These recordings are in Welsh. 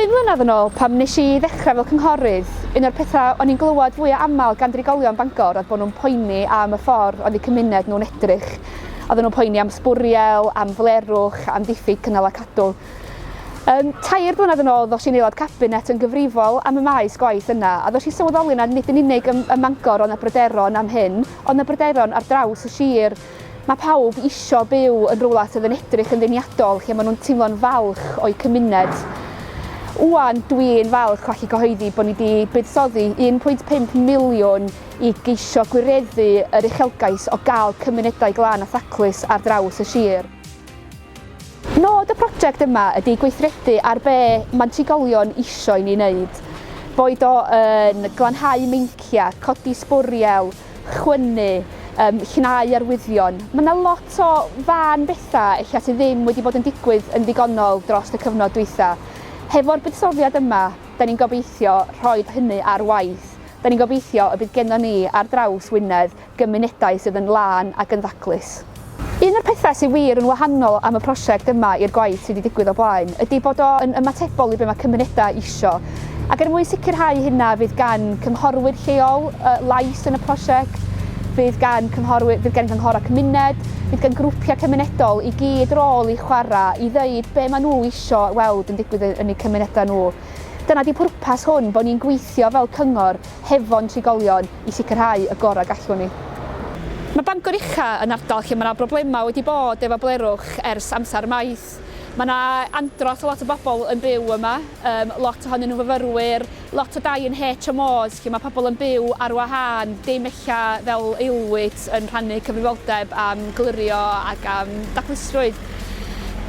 Bum mlynedd yn ôl, pam nes i ddechrau fel cynghorydd, un o'r pethau o'n i'n glywed fwya aml gan drigolion Bangor oedd bod nhw'n poeni am y ffordd oedd eu cymuned nhw'n edrych. Oedden nhw'n poeni am sbwriel, am flerwch, am ddiffyg cynnal a cadw. Um, tair blynedd yn ôl ddos i'n aelod cabinet yn gyfrifol am y maes gwaith yna a ddos i sylweddoli nad nid yn unig ym, ym Mangor ond na bryderon am hyn, ond na bryderon ar draws y sir. Mae pawb isio byw yn rywle sydd yn edrych yn ddeniadol, lle maen nhw'n teimlo'n falch o'u cymuned. Ŵan, dwi'n falch o allu cyhoeddi bod ni wedi buddsoddi 1.5 miliwn i geisio gwireddu yr uchelgais o gael cymunedau glân a thaclus ar draws y sir. Nod y prosiect yma ydy gweithredu ar be mae trigolion isio i ni wneud, boed o yn glanhau meinciau, codi sbwriel, chwynnu, yym llnau arwyddion. Ma' 'na lot o fân betha ella sy ddim wedi bod yn digwydd yn ddigonol drost y cyfnod dwytha. Hefo'r buddsoddiad yma, 'dan ni'n gobeithio rhoid hynny ar waith. 'Dan ni'n gobeithio y bydd gennon ni ar draws Wynedd gymunedau sydd yn lân ac yn ddaclus. Un o'r pethau sydd wir yn wahanol am y prosiect yma i'r gwaith sydd wedi digwydd o blaen ydy bod o yn ymatebol i be mae cymunedau isio. Ac er mwyn sicrhau hynna fydd gan cynghorwyr lleol lais yn y prosiect, fydd gan cynghorwyr, fydd gan gynghorau cymuned, fydd gan grwpiau cymunedol i gyd rôl i chwarae i ddeud be maen nhw isio weld yn digwydd yn eu cymunedau nhw. Dyna ydy pwrpas hwn, bod ni'n gweithio fel cyngor hefo'n trigolion, i sicrhau y gorau gallwn ni. Mae Bangor Ucha yn ardal lle mae yna broblemau wedi bod efo blerwch ers amser maith. Mae yna andros o lot o bobl yn byw yma, yym lot ohonyn nhw'n fyfyrwyr, lot o dai yn HMOs lle mae pobl yn byw ar wahân, dim ella fel aelwyd yn rhannu cyfrifoldeb am glirio ac am daclustrwydd.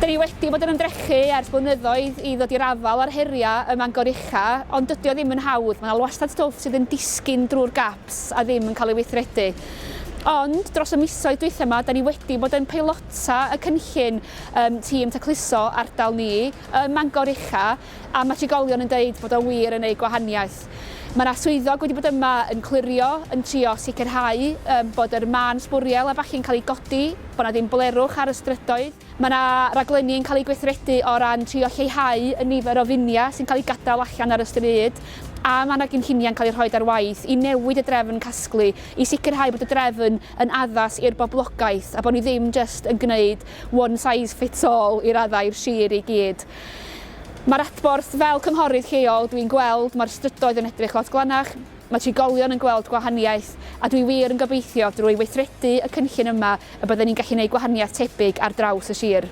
Dan ni wedi bod yn ymdrechu ers blynyddoedd i ddod i'r afael â'r heriau ym Mangor Ella, ond dydy o ddim yn hawdd, mae 'na wastad stwff sydd yn disgyn drwy'r gaps a ddim yn cael ei weithredu. Ond, dros y misoedd dwytha 'ma, 'da ni wedi bod yn peilota y cynllun ym Tîm Tacluso ardal ni ym Mangor Ucha a mae trigolion yn deud bod o wir yn neud gwahaniaeth. Mae 'na swyddog wedi bod yma yn clirio, yn trio sicrhau bod yr mân sbwriel a ballu'n cael ei godi, bod 'na ddim blerwch ar y strydoedd. Mae yna raglenni yn cael eu gweithredu o ran trio lleihau y nifer o finiau sy'n cael eu gadael allan ar y stryd, a mae yna gynlluniau'n cael eu rhoi ar waith i newid y drefn casglu i sicrhau bod y drefn yn addas i'r boblogaeth a bod ni ddim jyst yn gwneud one size fits all i raddau i'r sir i gyd. Mae'r adborth, fel cynghorydd lleol, dwi'n gweld mae'r strydoedd yn edrych lot glanach, Mae trigolion yn gweld gwahaniaeth, a dwi wir yn gobeithio drwy weithredu y cynllun yma y bydden ni'n gallu gwneud gwahaniaeth tebyg ar draws y sir.